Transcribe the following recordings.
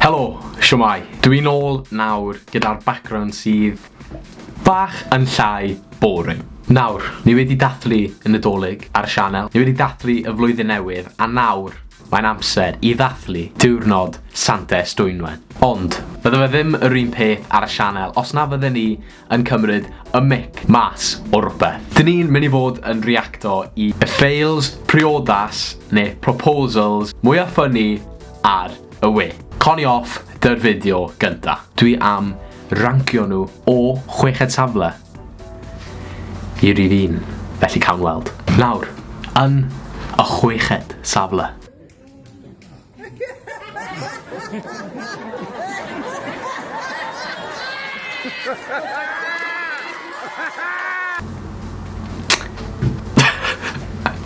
Helo, shwmae? Dw i'n ôl nawr gyda'r background sydd bach yn llai boring. Nawr, ni wedi dathlu y Nadolig ar y sianel, ni wedi dathlu y Flwyddyn Newydd a nawr mae'n amser i ddathlu diwrnod Sant Estwynwen. Ond, bydde fe ddim yr un peth ar y sianel os na fydden ni yn cymryd y mic mas o rwbeth. Dyn ni'n mynd i fod yn reacto i y fails priodas neu proposals mwya ffynni ar y we. Connie off 'dy'r fideo gynta. Dwi am rancio nhw o chweched safle i rif un, felly cawn weld. Nawr, yn y chweched safle.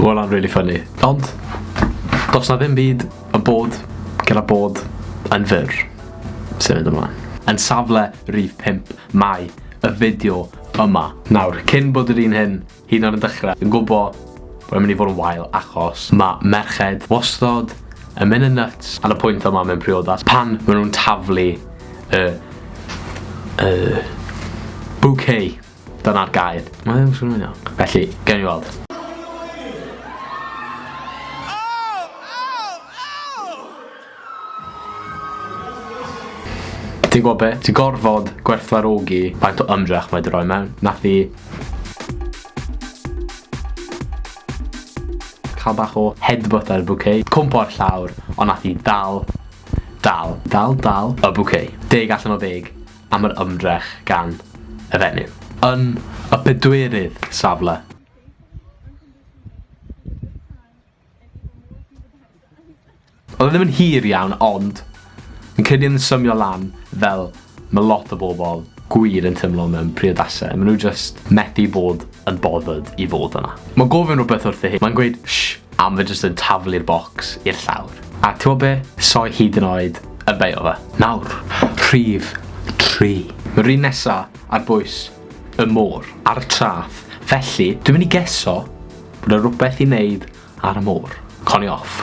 Mae hwnna'n really funny. Ond, does na ddim byd y bod gyda bod yn fyr sy'n mynd ymlaen. Yn safle rif 5 mae y fideo yma. Nawr, cyn bod yr un hyn Hyd yn oed yn dechrau. Dwi'n gwybod bod e'n mynd i fod yn wael achos mae merched wastod yn mynd yn nuts ar y pwynt yma mewn priodas pan maen nhw'n taflu y... y... bouquet. Dyna'r gair. Mae ddim yn swnio'n iawn. Felly, gawn ni weld. Ti'n gwybod be? Ti'n gorfod gwerthfawrogi faint o ymdrech mae 'di rhoi mewn. Nath hi cael bach o headbutt ar y bouquet, cwmpo ar llawr, ond nath hi dal, dal, dal, dal y bouquet. Deg allan o ddeg am yr ymdrech gan y fenyw. Yn y pedwerydd safle. Odd e ddim yn hir iawn ond fi'n credu yn symio lan fel ma' lot o bobl gwir yn timlo mewn priodasau, ma' nhw jyst methu bod yn bothered i fod yna. Ma'n gofyn rwbeth wrtho hi, ma'n gweud shh a ma' fe jyst yn taflu'r bocs i'r llawr. A t'mod be? Soi hyd yn oed yn beio fe. Nawr, rhif tri. Ma'r un nesa ar bwys y môr ar y trath, felly dwi'n mynd i geso bod 'na rwbeth i neud ar y môr. Conioff.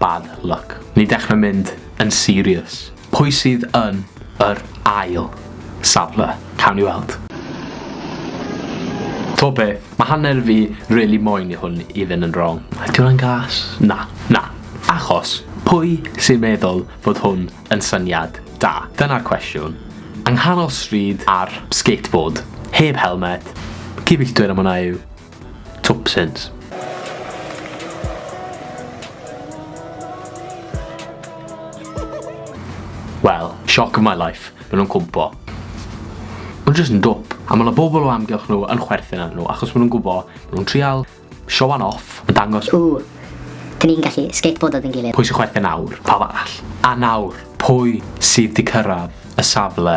Bad luck. Ni dechra mynd yn serious. Pwy sydd yn yr ail safle? Cawn ni weld. T'o be, ma hanner fi rili moyn i hwn i fyn yn wrong. Ydy hwnna'n gas? Na, na. Achos, pwy sy'n meddwl fod hwn yn syniad da? Dyna'r cwestiwn. Yng nghanol stryd ar skateboard. Heb helmet. Cyfeilltwyr am hwnna yw. Twpsins. Wel, shock of my life. Maen nhw'n cwmpo. Maen nhw'n just yn dwp. A mae yna bobl o amgylch nhw yn chwerthin ar nhw, achos maen nhw'n gwybod, maen nhw'n trial siowan off, yn dangos... Ww, dyn ni'n gallu skateboardo dyn gilydd. Pwy sy'n chwerthin nawr? Pawb arall. A nawr, pwy sydd wedi cyrraedd y safle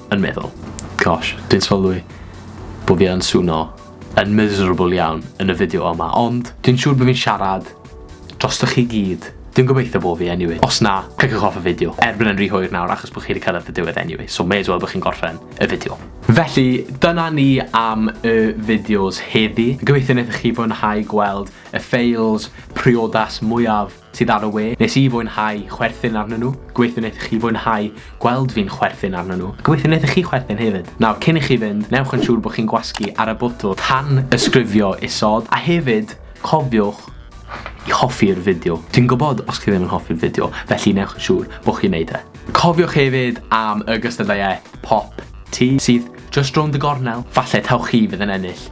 yn meddwl, gosh, dwi'n sylwi bod fi yn swno yn miserable iawn yn y fideo yma, ond dwi'n siŵr bod fi'n siarad drostoch chi gyd. Dwi'n gobeithio bod fi anyway. Os na, cliciwch off y fideo. Erbyn yn rhy hwyr nawr achos bod chi wedi cyrraedd y diwedd anyway, so may as well bod chi'n gorffen y fideo. Felly, dyna ni am y fideos heddi. Gobeithio wnaethoch chi fwynhau gweld y fails, priodas mwyaf sydd ar y we, nes i fwynhau chwerthin arnyn nhw, gobeithio wneith chi fwynhau gweld fi'n chwerthin arnyn nhw, a gobeithio wneith chi chwerthin hefyd. Nawr, cyn i chi fynd, newch yn siŵr bod chi'n gwasgu ar y botwm tanysgrifio isod, a hefyd, cofiwch i hoffi'r fideo. Dwi'n gwybod os chi ddim yn hoffi'r fideo, felly newch yn siŵr bod chi'n neud e. Cofiwch hefyd am y gystadleuaeth Pop Tee sydd Just rownd y gornel. Falle taw chi fydd yn ennill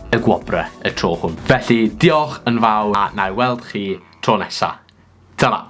y gwobre y tro hwn. Felly, diolch yn fawr a wna i weld chi tro nesa. Tara!